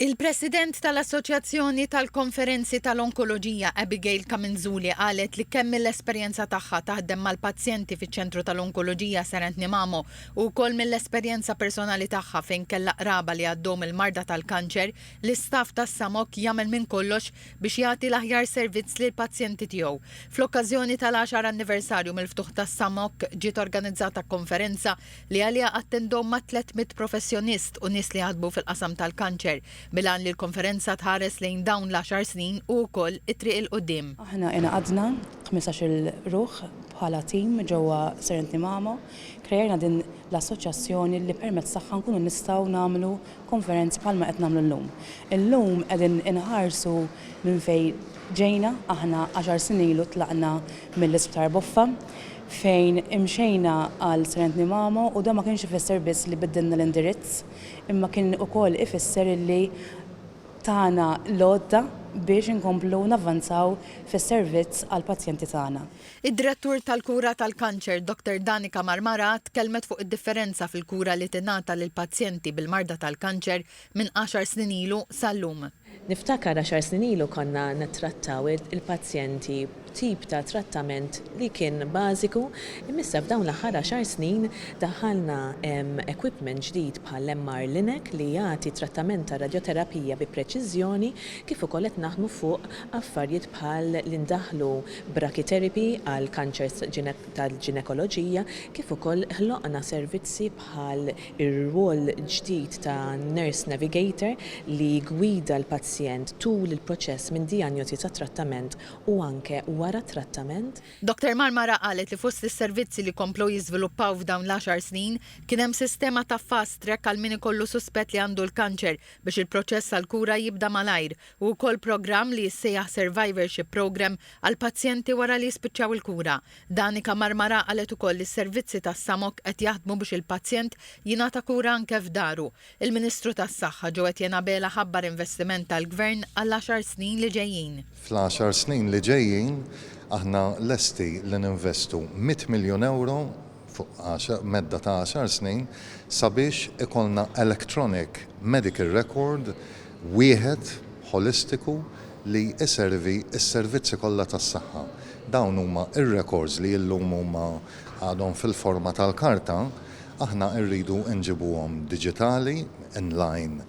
Il-President tal-Assoċjazzjoni tal-Konferenzi tal-Onkoloġija Abigail Caminzuli qalet li kemm mill-esperjenza tagħha taħdem mal-pazjenti fiċ-Ċentru tal-Onkoloġija Sir Anthony Mamo u wkoll mill-esperjenza personali tagħha fejn kellha qraba li għaddew mill-marda tal-kanċer, l-istaff tas-SAMOC jagħmel minn kollox biex jagħti l-aħjar servizz lill-pazjenti tiegħu. Fl-okkażjoni tal-għaxar anniversarju mill-ftuħ tas-SAMOC ġiet organizzata konferenza li għaliha attendom ma' tlett mitt professjonist u nies li jaħdmu fil-qasam tal-kanċer, bil-għan li l-konferenza tħares lejn dawn l-għaxar snin u wkoll it-triq 'il quddiem. Aħna ingħaqadna, ħmisax-il ruħ, bħala tim ġewwa Serenity Mamo, kreajna din l-assoċjazzjoni li permezz tagħha nkunu nistgħu nagħmlu konferenza bħalma qed nagħmlu llum. Illum qegħdin inħarsu minn fejn ġejna, aħna għaxar snin ilu tlaqna mill-Isptar Boffa fejn imxejna għal Srentni Mamo u dan ma kienx ifisser biss li biddilna l-indirizz imma kien ukoll ifisser illi tana l-għodda biex inkomplu navvanzaw fis-servizz għall-pazjenti tagħna. Id-Direttur tal-Kura tal-Kanċer, Dottor Danica Marmara tkellmet fuq id-differenza fil-kura li tingħata lill-pazjenti bil-marda tal-kanċer minn għaxar snin ilu sal-lum. Niftakar għaxar snin ilu konna nittrattaw il-pazjenti b'tip ta' trattament li kien bażiku imma issa f'dawn l-aħħar għaxar snin daħħalna equipment ġdid bħall-MR Linac li jagħti trattament tar-radjoterapija bi preċiżjoni kif ukoll qed naħdmu fuq Affarjiet bħal li ndaħħlu brachytherapy għal kanċers tal-ġinekoloġija kif ukoll ħloqna servizzi bħal ir-rwol ġdid ta' nurse navigator li jiggwida l-pazjent tul il-proċess minn dijanjosi sa trattament u anke wara t-trattament. Dottor Marmara qalet li fost is-servizzi li komplew jiżviluppaw f'dawn l-għaxar snin kien hemm sistema ta' fast track għal min ikollu suspett li għandu l-kanċer biex il-proċess għall-kura jibda malajr Hu wkoll programm li jissejjaħ Survivorship Programme għall-pazjenti wara li jispiċċaw il-kura. Danica Marmara qalet ukoll li s-servizzi tas-SAMOC qed jaħdmu biex il-pazjent jingħata kura anke f'daru. Il-Ministru tas-Saħħa, Joe Etienne Abela ħabbar investiment tal-Gvern għall-għaxar snin li ġejjin. Fl-għaxar snin li ġejjin aħna lesti li ninvestu mitt miljun ewro fuq medda ta' għaxar snin sabiex ikollna electronic medical record wieħed ħolistiku li jservi s-servizzi kollha tas-saħħa. Dawn huma r-rekords li illum huma għadhom fil-forma tal-karta, aħna rridu nġibuhom diġitali in line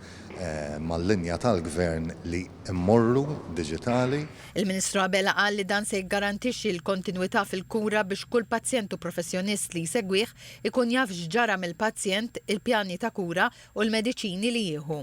mal-linja tal-Gvern li mmorru diġitali. Il-Ministru Abela qal li dan se jiggarantixxi l-kontinwità fil-kura biex kull pazjent u professjonist li jsegwih ikun jaf x'ġara mill-pazjent, il-pjani ta' kura u l-mediċini li jieħu.